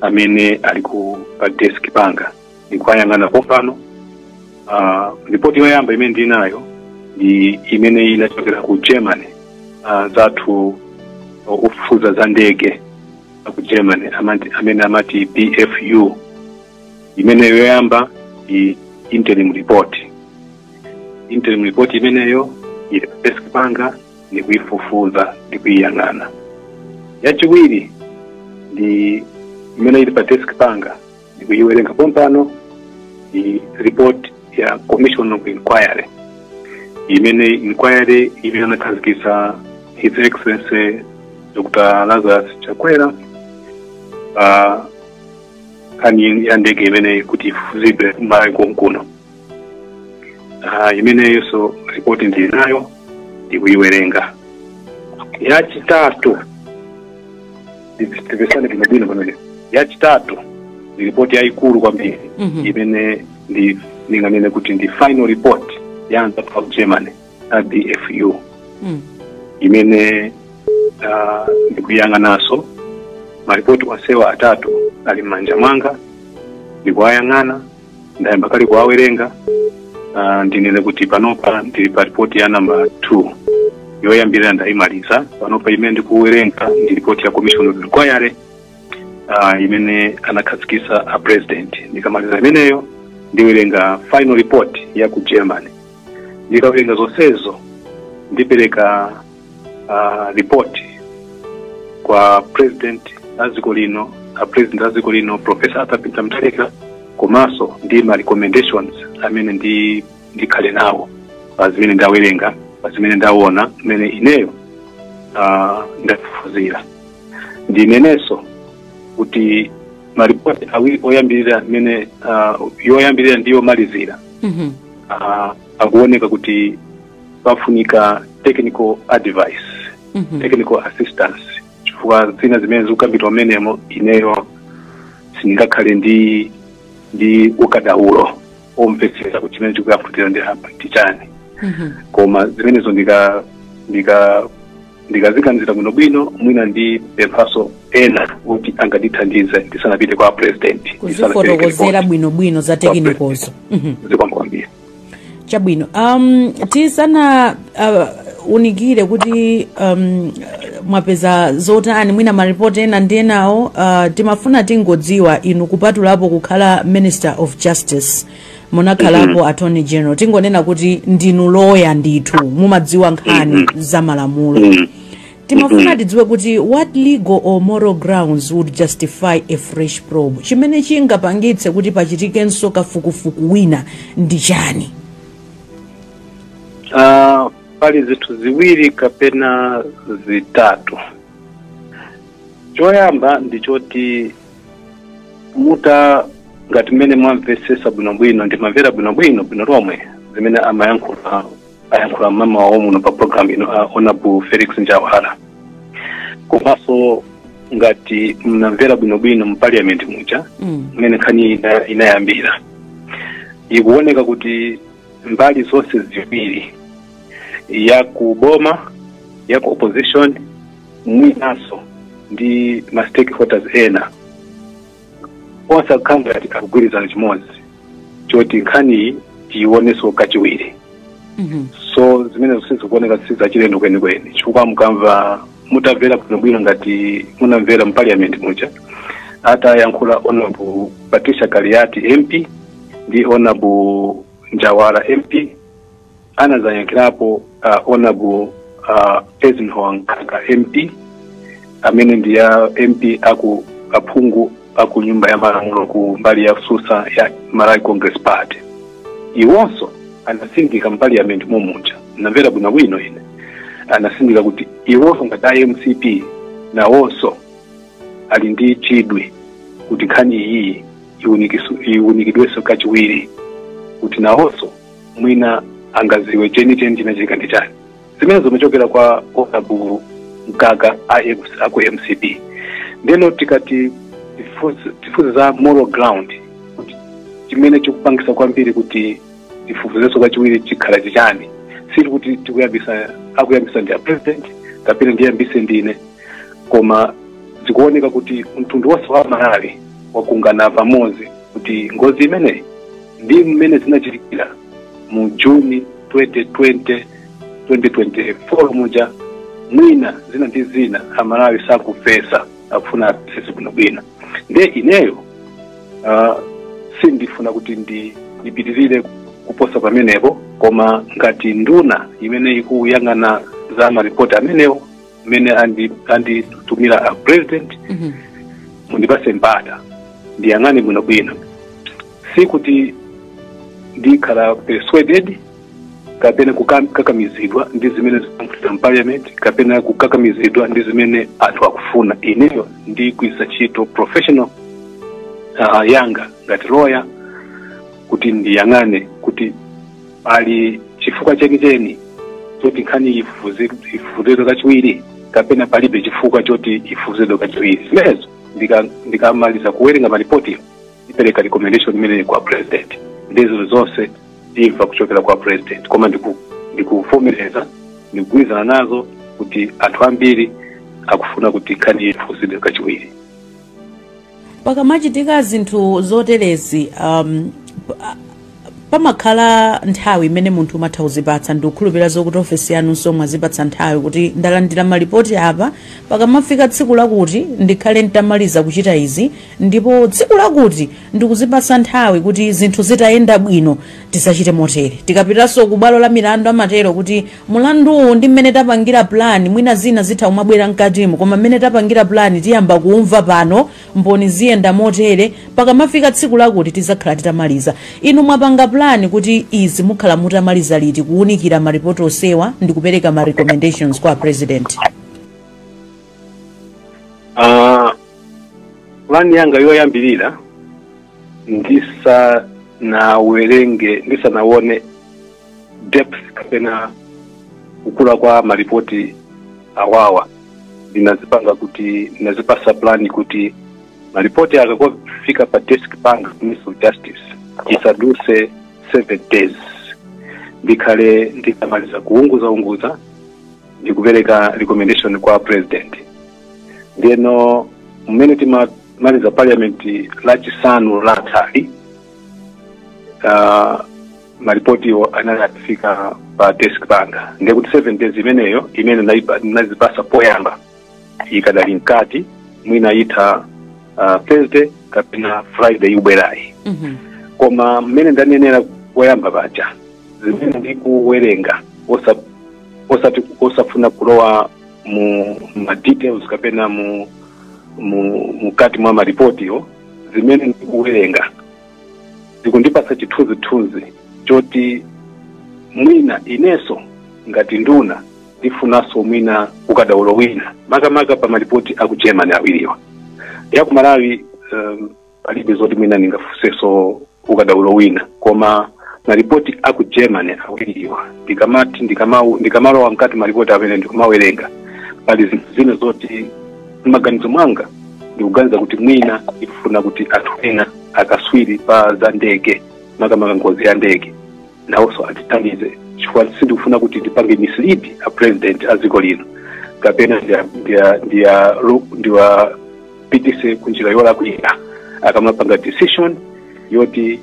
amene ali ku pa desk panga ndikuwayang'ana pompano uh, ripoti yoyamba imene ndili nayo ndi imene inachokera ku germany uh, zathu ofufuza za ndege aku germany amati, amene amati bfu imeneyo yoyamba ndi interim report interim report imeneyo ili pa desk panga ndi kuifufuza ndi kuiyang'ana yachiwiri ndi imene ili pa desk panga ndi kuiwerenga pompano ndi report ya commission of inquiry imene inquiry imene anakhazikitsa his excellency dr lazarus chakwera pa nkhani ya ndege imeneyi kuti ifufuzidwe m'malawi konkuno Ah, imeneyonso ripoti ndili nayo ndikuyiwerenga yachitatu timvetsane bwinobwino pamene yachitatu ndi ripoti yayikulu kwambiri Mhm. imene ndi ndinganene kuti ndi final report ya anthu of germany a bfu Mm. imene ah, ndikuyang'ananso maripoti onsewa atatu ali m'manja mwanga ndikuwayang'ana ndayamba kale kuwawerenga uh, ndinene kuti panopa ndili pa ripoti ya namba 2 yoyambirira ndayimaliza panopa imene ndikuwerenga ndi ripoti ya commission of inquiry uh, imene anakhazikitsa a president ndikamaliza imeneyo ndiwerenga final report ya ku germany ndikawerenga zonsezo ndipereka uh, report kwa president a dziko lino a president a dziko lino professor arthur peter mutharika komanso ndi ma recommendations amene ndi ndikhale nawo pa zimene ndawerenga pa zimene ndaona mmene ineyo uh, ndafufuzira ndinenenso kuti maripoti awiri oyambirira mmene uh, yoyambirira ndi yomalizira Mhm. uh, akuoneka kuti pafunika technical advice Mhm. technical assistance chifukwa zina zimene zikukambidwa mmenemo ineyo sindingakhale ndi ndi ukadaulo omvetsetsa kuti chimene chikuyankhulidwa apa ndi chani Mhm. koma zimenezo ndika ndika ndikaziganizira bwinobwino mwina ndipemphanso ena kuti angandithandize ndisanapite kwa president ndisanapereke kuzifotokozera report. bwinobwino za technical zo Mhm. zikwambiri chabwino um, tisana uh, unikire kuti um, mwapeza zotani mwina maripoti ena ndi enawo uh, timafuna tingodziwa inu kupatulapo kukhala minister of justice munakhalapo attorney general tingonena kuti ndinu loya ndithu mumadziwa nkhani za malamulo timafuna tidziwe kuti what legal or moral grounds would justify a fresh probe chimene chingapangitse kuti pachitikenso kafukufuku wina ndi chani Ah, pali zinthu ziwiri kapena zitatu choyamba ndi choti muta ngati mmene mwamvesesa bwinobwino ndimamvera bwinobwino bwino lomwe zimene amayankhula ayankhula mmawa wawo muno pa program ino a honorable felix njawala komanso ngati mnamvera bwinobwino mu parliament muja Mm. mmene nkhani ina- inayambira ikuoneka kuti mbali zonse ziwiri ya ku boma ya ku opposition mwinanso ndi ma stakeholders ena onse akukhala ngati akugwirizana chimodzi choti nkhaniyi tiionenso kachiwiri Mhm. so zimenezo sizikuoneka sizachilendo kwenikweni chifukwa mukamva mutamvera bwinobwino ngati munamvera mu parliament muja atayankhula honorable patricia kaliati mp ndi honorable njawala mp anazayankhirapo uh, honorable uh, Eisenhower Mkaka MP amene ndi ya MP aku aphungu aku nyumba ya malamulo ku mbali yosusa ya Malawi Congress Party iwonso anasindika mu parliament momuja namvera bwino bwino ine anasindika kuti iwonso ngati a mcp nawonso ali ndi chidwi kuti nkhani iyi iwunikisu- iwunikidwenso kachiwiri kuti nawonso mwina angaziwe chenicheni chinachitika ndi chani zimene zimachokera kwa honorable mkaka a M- aku mcp ndeno tikati tifunse- tifunse za moral ground kuti chimene chikupangisa kwambiri kuti tifufuzenso kachiwiri chikhala chichani sikuti tikuyambisa akuyambisa ndi a president kapena ndiyambise ndine koma zikuoneka kuti mtundu wonse wa malawi wakumana pamodzi kuti ngozi imeneyi ndi mmene zinachitikira mu juni 2020 2024 muja mwina zina ndi zina amalawi sakumvesa akufuna amvese bwinobwino nde ineyo uh, sindifuna kuti ndi ndipitirire kuposa pamenepo koma ngati nduna imene ikuyang'ana za maripoti amenewo mmene andi- anditumira a president Mhm. mundipase mpata ndiyang'ane bwinobwino sikuti ndikhala persuaded kapena kukam- kukakamizidwa ndi zimene zikuchitika mu parliament kapena kukakamizidwa ndi zimene anthu akufuna ineyo ndigwirisa ntchito professional uh, yanga ngati lawyer kuti ndiyang'ane kuti pali chifukwa chenicheni choti nkhani iyi ifufuzi- ifufuzidwe kachiwiri kapena palibe chifukwa choti ifufuzidwe kachiwiri zimenezo ndika- ndikamaliza kuwerenga maripotiyo ndipereka recommendation imeneyi kwa president nde zinu zonse timva kuchokera kwa president koma ndiku- ndikuvomereza ndikugwirizana nazo kuti anthu ambiri akufuna kuti nkhani iyi ifufuzidwe kachiwiri pakamachitika zinthu zoterezi um, pa- pamakhala nthawi imene munthu umatha kuzipatsa ndikukhulupirira zokuti ofesi yanunso mwazipatsa nthawi kuti ndalandira malipoti apa pakamafika tsiku lakuti ndikhale nditamaliza kuchita izi ndipo tsiku lakuti ndikuzipatsa nthawi kuti zinthu zitayenda bwino tizachite motere tikapitanso ku bwalo la milandu amatero kuti mulanduwu ndi mmene tapangira plan mwina zina zitha kumabwera mkatimo koma mmene tapangira plan tiyamba kuumva pano mboni ziyenda motere pakamafika tsiku lakuti tizakhala titamaliza inu mwapanga plan kuti izi mukhala mutamaliza liti kuunikira maripoti onsewa ndi kupereka ma recommendations kwa president Ah, plan yanga yoyambirira ndisanawerenge ndisanaone depth kapena kukula kwa maripoti awawa ndinazipanga kuti ndinazipasa plani kuti maripoti akangofika pa desk panga minister of justice pasaduse seven days ndikhale nditamaliza kuunguza unguza ndikupereka recommendation kwa president ndeno mmene tima maliza parliament lachisanu lathali uh, malipotiwo anali atafika pa desk panga ndiye kuti seven days imeneyo imene naipa- nazipasa poyamba ikadali mkati mwina itha uh, thursday kapena friday ikubwerayi Mhm. koma mmene ndanenera poyamba paja zimene ndikuwerenga osa- osati osafuna kulowa mu ma details kapena mu mu- mkati mwa malipotiwo zimene ndikuwerenga zikundipatsa chithunzithunzi choti mwina inenso ngati nduna ndifunanso mwina ukadaulo wina makamaka pa malipoti aku germany awiriwa ya ku malawi um, palibe zoti mwina ndingafunenso ukadaulo wina koma maripoti aku germany awiriwa ndikamati ndikama- ndikamalowa mkati maripoti amene ndikumawerenga pali zinthu zina zoti m'maganizo mwanga ndikuganiza kuti mwina ndikufuna kuti anthu ena akaswiri pa za ndege makamaka ngozi ya ndege nawonso atithandize chifukwa sindikufuna kuti ndipange mislead a president a dziko lino kapena ndiya- ndiya- ndiya- ru- ndiwa ndiwapitise ku njira yolakwira akamapanga decision yoti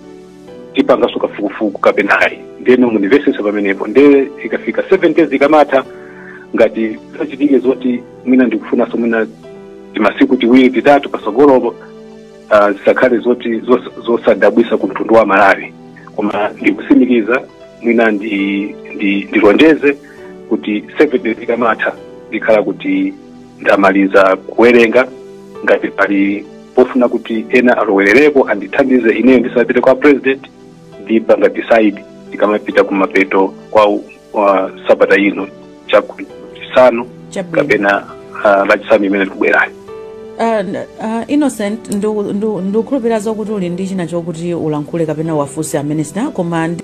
tipangaso kafukufuku kapena ayi ndeno munimvesese pamenepo nde ikafika 7 days ikamatha ngati zachitike zoti mwina ndikufunaso mwina timasiku tiwiri titatu pasogolopo ah, zisakhale zoti zos- zosadabwisa ku mtundu wa malawi koma ndikusimikiza mwina ndi- ndi- ndilonjeze kuti 7 days ikamatha ndikhala kuti ndamaliza kuwerenga ngati pali pofuna kuti ena alowerereko andithandize ineyo ndisanapite kwa president ndipanga decide ndikamapita kumapeto kwa uh, sabata ino chachisanu Chabwino. kapena uh, lachisanu imene likubwerayo Uh, n- uh, innocent ndu- ndu- ndikukhulupirira zokuti uli ndi china chokuti ulankhule kapena wafunse a minister koma ndi-